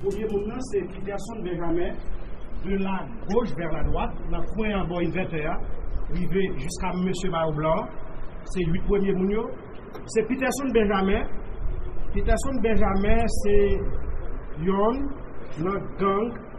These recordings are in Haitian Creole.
Premye moun nan se Piterson Benjamin, de la goch vè la dwat, nan kwen an bò envètè a, rive jiska mesye mayo blan an. Se 8 premye moun yo. Se Piterson Benjamin. Piterson Benjamin se yonn nan gang.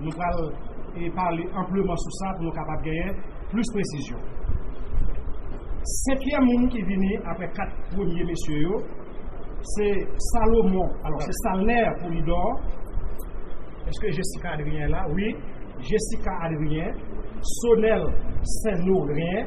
Nou pral pale anpleman sou sa pou nou kapab genyen plis presizyon. Senkyèm moun ki vini apre kat premye mesye yo, se Salomon, alò se Salner Polidor, èske Jesika Adrien la? Wi, Jesika Adrien, Sonel Senno Rien,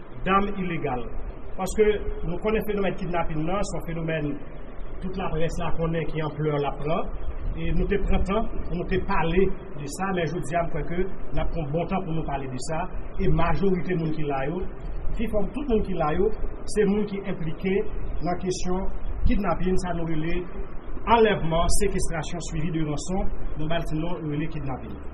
dam ilegal paske nou konnen fenomèn kidnapin nan son fenomèn tout laprès la konnen ki anplè lap pran e nou te pran tan pou nou te pale de sa men jodi a m kwè ke nap pran bon tan pou nou pale de sa e majorite moun ki la yo pi fò tout moun ki la yo se moun ki enplike nan kesyon kidnapin sa nou rele anlèvman sekestrasyon swivi de ranson nou ba l ti non nou rele kidnapin.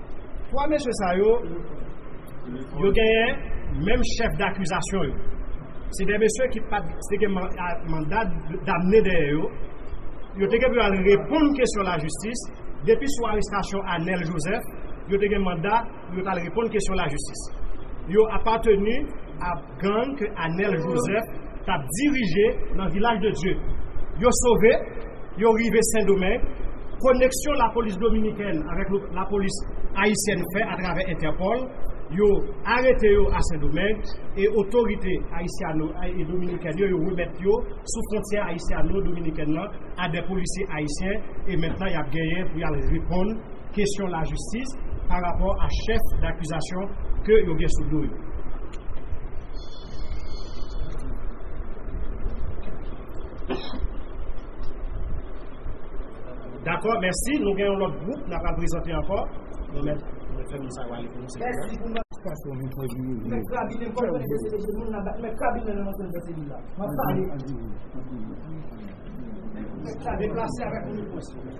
3 mesye sa yo, yo genyen menm chèf dakizasyon yo. Se 2 mesye ki pat se gen manda damne dèyè yo, yo te gen pou yo al reponn kesyon lajistis, depi sou arestasyon Anel Joseph, yo te gen manda pou yo t al reponn kesyon lajistis. Yo apateni a. gang ke Anel Joseph tap dirije nan Vilaj de Dye yo sove yo rive Sendomeng koneksyon lapolis dominikèn avèk lapolis ayisyèn fè atravè entèpòl yo arete yo a Sendomeng e otorite ayisyano e dominikèn yo yo remèt yo sou fwontyè ayisyano dominikèn nan a dè polisye ayisyen e mentnan yap genyen pou yal reponn kesyon lajistis pa rapò a chèf dakizasyon ke yo gen sou do yo. Dakò, mèsi. Nou gen yon lòt gwoup na pral prezante ankò. Nou mèt fè moun sa yo ale pou nou sèvi. Mèsi.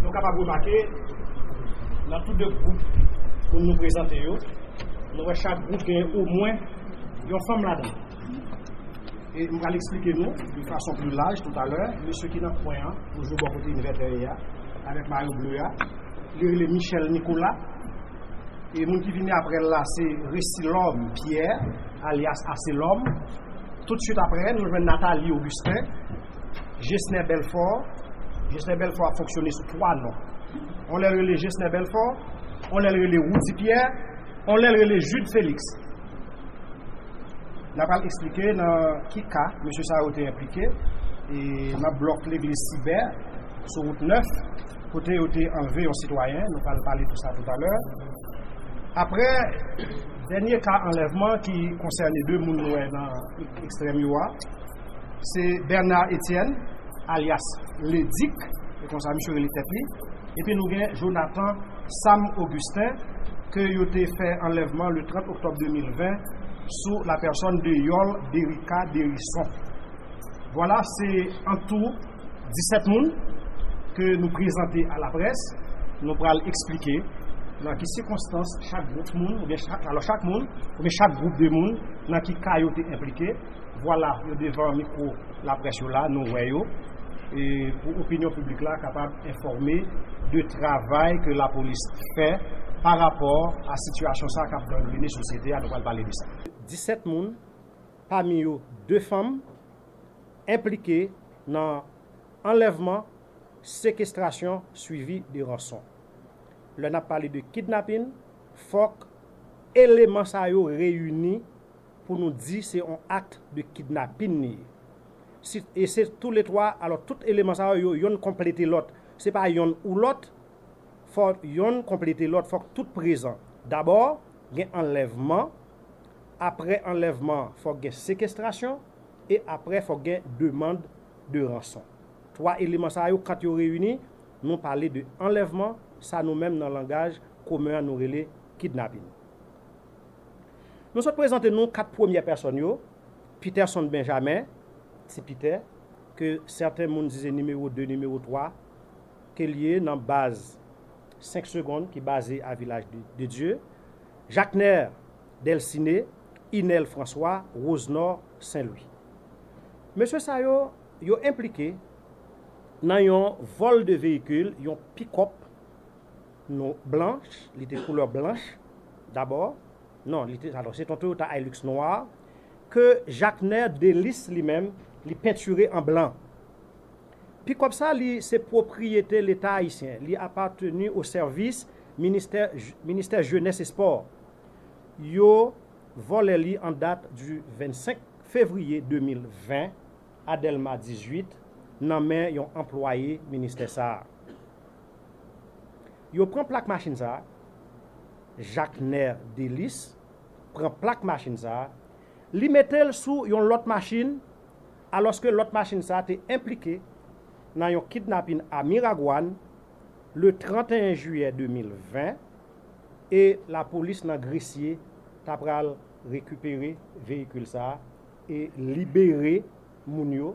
Nou kapab remake, nan tou 2 gwoup pou nou prezante yo, nou wè chak gwoup gen omwen yon fanm ladan. E m pral eksplike nou yon fason pli laj toutalè, mesye ki nan kwen an, toujou bò kote Invert dèyè a, avèk mayo ble a, li rele Michel Nicolas, e moun ki vini aprè l la se Resilhomme Pierre, alyas Aselòm, toutswit aprè nou jwenn Nathalie Augustin, Gesner Belfort, Gesner Belfort ap fonksyone sou 3 non, yon lè l rele Gesner Belfort, yon lè l rele Roudy Pierre, yon lè l rele Jude Félix. N apral esplike nan ki ka mesye sa yo te enplike nan blòk legliz Sibè sou wout 9 kote yo te anlve yon sitwayen, nou pral pale de sa toutalè. Aprè dènye ka anlèvman ki konsène 2 moun nou wè nan ekstrèm yo a. Se Bernard Etienne alyas Ledik, se konsa misye rele tèt li, epi nou gen Jonathan Sam Augustin ke yo te fè anlèvman le 30 oktòb 2020 sou la pèsòn de Yòl Derica Derison. Vwala se an tou 17 moun ke nou prezante a la près, nou pral eksplike nan ki sikonstans chak gwoup moun oubyen chak moun oubyen chak gwoup de moun nan ki ka yo te enplike. Vwala, yo devan mikwo laprès yo la, nou wè yo, pou opinyon piblik la kapab enfòme de travay ke lapolis fè pa rapò a sitiyasyon sa kap gangrene sosyete a, nou pral pale de sa. 17 moun, pami yo 2 fanm, enplike nan anlèvman, sekestrasyon swivi de ranson. Lè nap pale de kidnapin, fòk eleman sa yo reyini. pou nou di se yon akt de kidnapin li ye. Si e se tou le 3, alò tout eleman sa yo, yo yonn konplete lòt. Se pa yonn ou lòt, fò yonn konplete lòt, fòk tout prezan. Dabò, gen anlèvman, aprè anlèvman fòk gen sekestrasyon, e aprè fòk gen demand de ranson. 3 eleman sa yo kant yo reyini, nou pale de anlèvman, sa nou menm nan langaj komen an nou rele kidnapin. Nou sot prezante nou 4 premyè pèsòn yo, Peterson Benjamin, Ti Piter, ke sèten moun di se nimewo 2, nimewo 3 ke l ye nan baz 5 segond ki baze a Vilaj de Dye, Jacner Delcine, Inel François, Rosenor Saint Louis. Mesye sa yo, yo enplike nan yon vòl de veyikil, yon pick-up, Nou blanch, li te koulè blanch dabò, non li te alò se ton Toyota Hilux nwa ke Jaknè Delis li menm li pentire an blan. Pikòp sa li se pwopriyete leta ayisyen, li apateni o sèvis ministè ministè jenès e spò. Yo vòlè li an dat di 25 fevriye 2020 a Dèlma 18 nan men yon anplwaye ministè sa. Yo pran plak machin sa a, Jacner Delice pran plak machin sa a, li mete l sou yon lòt machin alòske lòt machin sa a te enplike nan yon kidnapin a Miragwàn le 31 jiyè 2020 e lapolis nan Gresye ta pral rekipere veyikil sa a e libere moun yo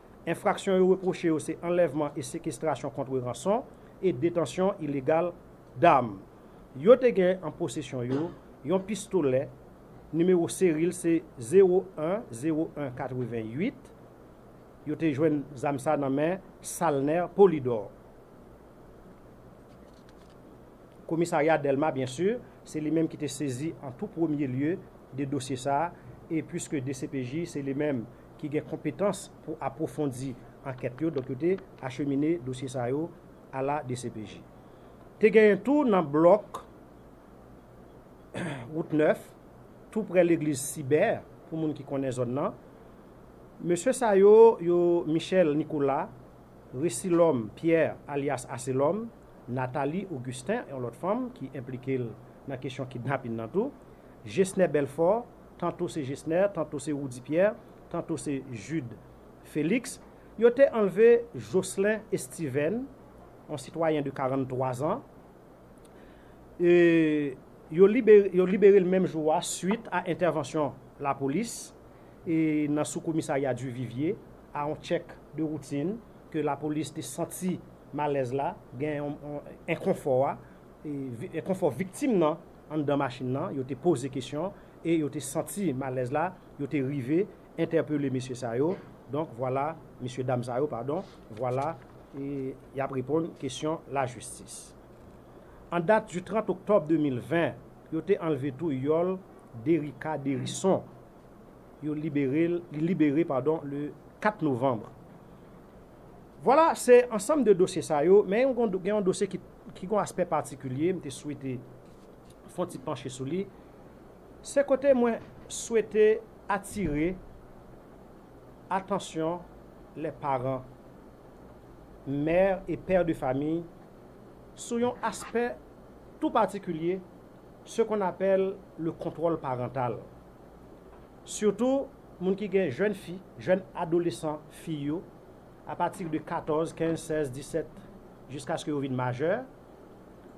Enfraksyon yo repwoche yo se anlèvman e sekestrasyon kontre ranson e detansyon ilegal dam. Yo te gen an posesyon yo yon pistolè, nimewo seri l se 010188. Yo te jwenn zam sa nan men Salner Polydor. Komisarya Dèlma byen si, se li menm ki te sezi an tou premye lye de dosye sa e puiske dcpj se li menm ki gen konpetans pou apwofondi ankèt yo, donk yo te achemine dosye sa yo a la dcpj. Te genyen tou nan blòk wout 9, tou prè legliz Sibè, pou moun ki konnen zòn nan, mesye sa yo, yo Michel Nicolas, Resilòm Pierre alyas Aselòm, Nathalie Augustin, yon lòt fanm ki enplike l nan kesyon kidnapin nan tou, Gesner Belfort, tanto se Gesner, tanto se Roudy Pierre, tanto se Jude Felix, yo te anlve Jocelin Estiven, yon sitwayen de 43 zan, e yo libere l menm jou a suit a entèvansyon lapolis e nan sou komisarya Duvivier a yon tchèk de woutin ke lapolis te santi malèz la, gen yon enkonfò a, enkonfò viktim nan. anndan machin nan, yo te poze kesyon e yo te santi malèz la, yo te rive entèpele mesye sa yo, donk vwala, mesye dam sa yo, padon, vwala, e y ap reponn kesyon lajistis. An dat du 30 oktòb 2020, yo te anlve tou yòl Derica Derison, yo libere l, li libere, padon, le 4 novanbre. Vwala, se ansanm de dosye sa yo, men gen yon dosye ki. ki gon aspè patikilye m te swete fon ti panche sou li, se kote mwen swete atire atansyon lè paran, mè e pè de fami sou yon aspè tou patikilye se kon apèl le kontwòl parantal. Sitou moun ki gen jèn fi, jèn adolesan fi yo apati de 14, 15, 16, 17 jiskaske yo vin majè,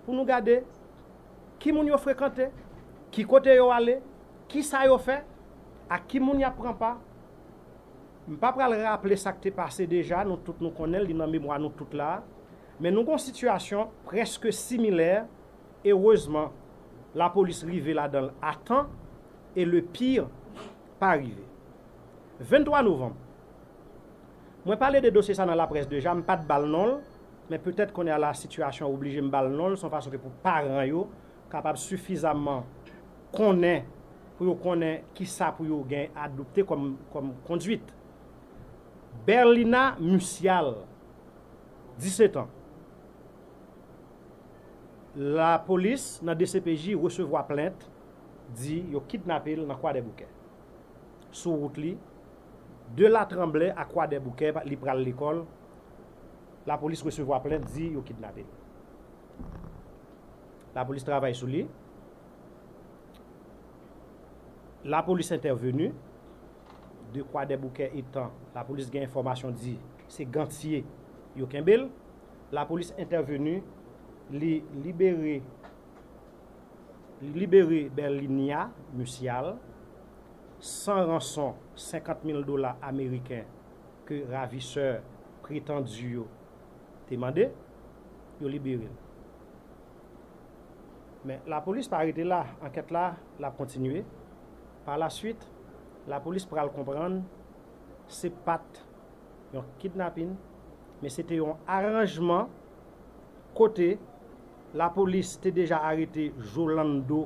pou nou gade ki moun yo frekante, ki kote yo ale, ki sa yo fè, ak ki moun y ap pran pa. M pa pral raple sa k te pase deja, nou tout nou konnen l, li nan memwa nou tout la a. Men nou gon sitiyasyon prèske similè, erezman lapolis rive ladan l a tan e le pire pa rive. 23 novanm. Mwen pale de dosye sa nan laprès deja, m pat bal non l, men petèt kounye a la sitiyasyon oblije m bal non l son fason ke pou paran yo kapab sifizamman konnen pou yo konnen kisa pou yo gen adopte kòm kòm konduit. Berlina Musial, 17 ans. Lapolis nan dcpj resevwa plent di yo kidnape l nan Kwadèboukè. Sou wout li. De la tranble a kwadèboukè li pral lekòl lapolis resevwa plent di yo kidnape li lapolis travay sou li lapolis entèveni de kwadèboukè etan lapolis gen enfòmasyon di se gantye yo kenbe l lapolis entèveni li libere li libere berlinia musial. san ranson 50 mil dola ameriken ke ravisè pretandi yo te mande, yo libere l. Men, lapolis pa rete la, ankèt la l ap kontinye. Pa la swit, lapolis pral konprann se pa t yon kidnapin, men se te yon aranjman kote lapolis te deja arete Jolando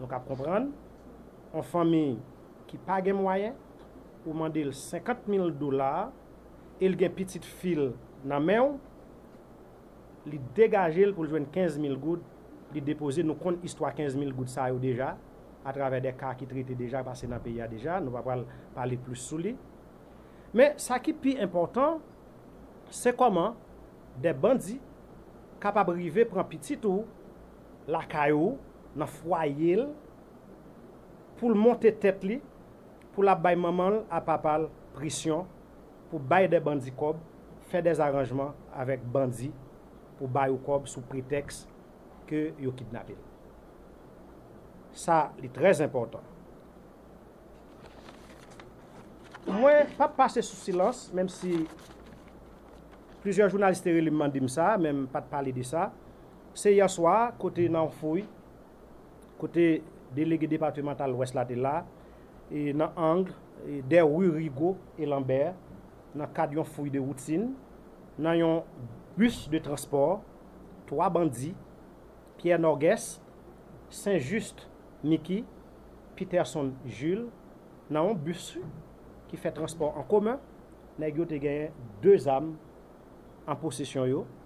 Nou kab konprann, yon fanmi ki pa gen mwayen, ou mande l 50 mil dola, e l gen pitit fi l nan men w, li degaje l pou l jwenn 15 mil goud, li depoze, nou konn istwa 15 mil goud sa yo deja, atravè de ka ki trete deja, pase nan peyi a deja, nou pa pral pale plis sou li. Men, sa ki pi enpòtan, se kòman de bandi kapab rive pran pitit ou, lakay ou, nan fwaye l, pou l monte tèt li, pou l ap bay manman l a papa l presyon pou bay dè bandi kòb, fè dè zaranjman avèk bandi pou ba yo kòb sou pretèks ke yo kidnape l. Sa li trè zenpòtan. Mwen p ap pase sou silans, menm si plizyè jounalis te rele m mande m sa, men m pa t pale de sa. Se yè swa kote nan yon fouy kote delege depatimantal lwès la te la e nan ang dè ru Rigo e Lanbè nan kad yon fouy de woutin nan yon bis de transpò, 3 bandi, Pierre Norgues, Saint Juste Micky, Peterson Jules, nan yon bis ki fè transpò an komen, nèg yo te genyen 2 zam an posesyon yo.